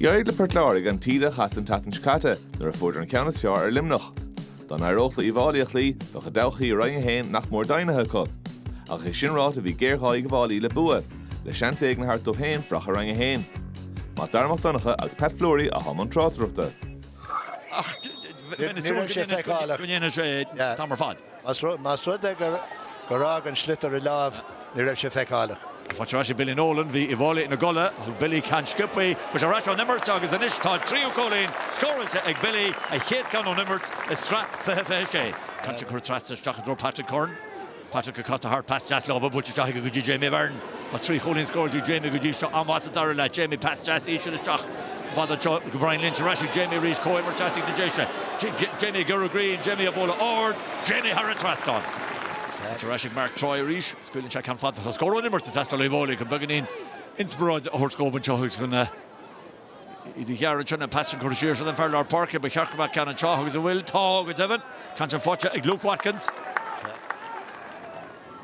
D'éirigh le Port Láirge an taoide a chasadh an tseachtain seo caite nuair a fuaireadar an ceann is fearr ar Luimneach. Dá n-éireodh leo Uíbh Fháilí a chloí, bheadh a dtodhchaí i Roinn 1 féin nach mór deimhnithe acu. Ach é sin ráite bhí géarghá ag Uíbh Fháilí le bua, le seans éigin a thabhairt dóibh féin fanacht i Roinn 1. Mac Dara Mac Donncha agus Pat Fleury atá i mbun tráchtaireachta. Más rud é gur fhág an sliotar a láimh, ní raibh sé feiceálach. Faighte ar ais ag Billy Nolan, bhí Uíbh Fháilí ina gcodladh. Thug Billy ceann sciobtha. Is arís ón imirt agus anois tá a tríú cúilín scóráilte ag Billy, a chéad cheann ón imirt i sraith fiche fiche sé. Ceann atá ag dul trasna isteach i dtreo Patrick Curran. Patrick ag casadh thart, pas deas láimhe buailte isteach aige go dtí Jamie Barron. Tá trí chúilín scóráilte ag Jamie go dtí seo, an-mhaith sa dara leath, Jamie, pas deas íseal isteach. fada anseo go Brian Lynch ar ais ag Jamie arís comhimirt aistigh na deise Jamie ag giorrú greim Jamie á bualadh ard Jamie thar an trasnán Tar ar ais ag Mark Troy arís scaoileann sé ceann fada atá scór ón imirt ag teastáil ó Uíbh Fháilí chun beagáinín inspioráide a thabhairt dhóibh anseo thuas chun iad a ghearradh anseo an pas sin curtha siar don fhear lár páirce ba cheart go mbeadh ceann anseo agus an bhfuil tá go deimhin cúilín faighte ag Luke Watkins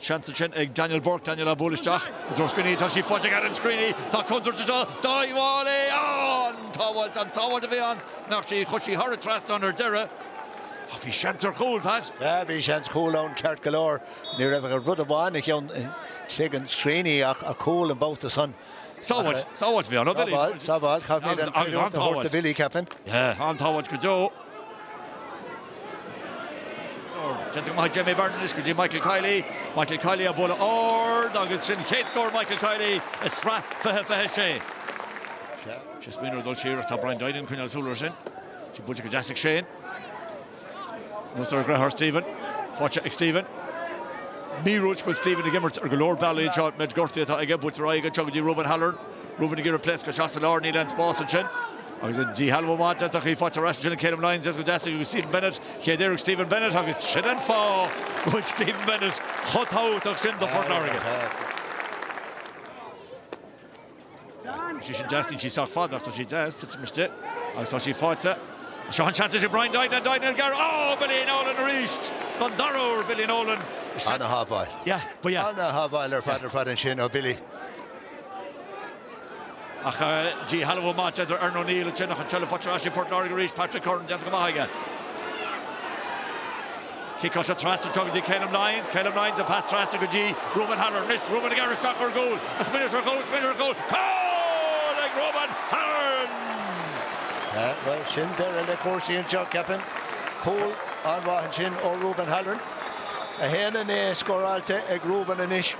Seans ansin ag Daniel Burke, Daniel á bualadh isteach i dtreo Screeney, tá sí faighte ag Adam Screeney, tá contúirt anseo dá ghabháil, é ann! Sábháilt an-sábháilte a bhí ann, nach sí, chuir sí thoradh trasna ann ar deireadh, ach bhí seans ar chúl, Pat. Yeah, bhí seans cúl ann ceart go leor, ní raibh ach rud amháin i gceann, i gcloigeann Screeney ach an cúl an babhta san. Sábháilt, sábháilt a bhí ann, ó Billy. Sábháilt, sábháilt, caithfear an chreidiúint a thabhairt do Billy, ceapaim. Yeah, an-sábháilt go deo. Déanta go maith ag Jamie Barron anois go dtí Michael Kiely. Michael Kiely á bualadh ard agus sin chéad scór Michael Kiely i sraith 20 26. Shane ag smaoineamh ar dhul siar ach tá Brian Duignan ag coinneáil súl air sin. Sin buailte go deas ag Shane. Anuas ar an gcliathán Stephen. Faighte ag Stephen. Míorúilt go bhfuil Stephen ag imirt ar go leor bealaí anseo. An méid gortaí atá aige, buailte ar aghaidh anseo go dtí Ruben Halloran. Ruben ag iarraidh pléascadh isteach sa lár, níl aon spás ansin. Agus an díshealbhú bainte, tá sí faighte ar ais ansin ag Calum Lyons, pas deas go dtí Stephen Bennett. Chéad iarracht Stephen Bennett agus sin an fáth go bhfuil Stephen Bennett chomh tábhachtach sin do Phort Láirge. Tá sí sin deas, níl sí sách fada ach tá sí deas, titeann sí agus tá sí faighte. Seo an seans ag Brian Duignan, Duignan ag gearradh, oh Billy Nolan arís! Don dara uair Billy Nolan. Ana-shábháil. Yeah, ba ea. Ana-shábháil ar fad ar fad ansin ó Billy. Ach díshealbhú amach d'fhéadfadh Aaron O'Neill an t-ionsaí ansin, faighte ar ais ag Port Láirge arís, Patrick Curran déanta go maith aige. Ciceáilte trasna anseo go dtí Calum Lyons, Calum Lyons an pas trasna go dtí Ruben Halloran, anois Ruben ag amharc isteach ar an gcúl, ag smaoineamh ar chúl, smaoineamh ar chúl, cúl ag Ruben Halloran! Bhuel sin deireadh le cúrsaí anseo ceapaim, cúl an-mhaith ansin ó Ruben Halloran, 1-9 scóráilte ag Ruben anois.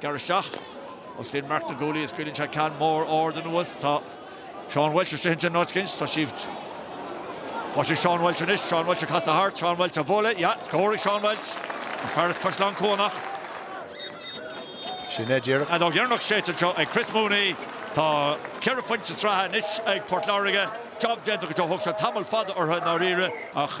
Gearr isteach. Osclaíonn Mark na guaillí, is scaoileann sé ceann mór ard anuas. Tá Seán Welch istigh ansin, os cionn. Tá sí. Tá sí. Seán Welch anois. Seán Welch ag casadh thart. Seán Welch ag bualadh. Yeah! Scór ag Seán Welch! An fear as Caisleán Cuanach. Sin é díreach. An fheadóg dheireanach séidte anseo ag Chris Mooney. Tá ceithre phointe sraithe anois ag Port Láirge. Job déanta go deo. Thóg sé tamall fada orthu i ndáiríre ach.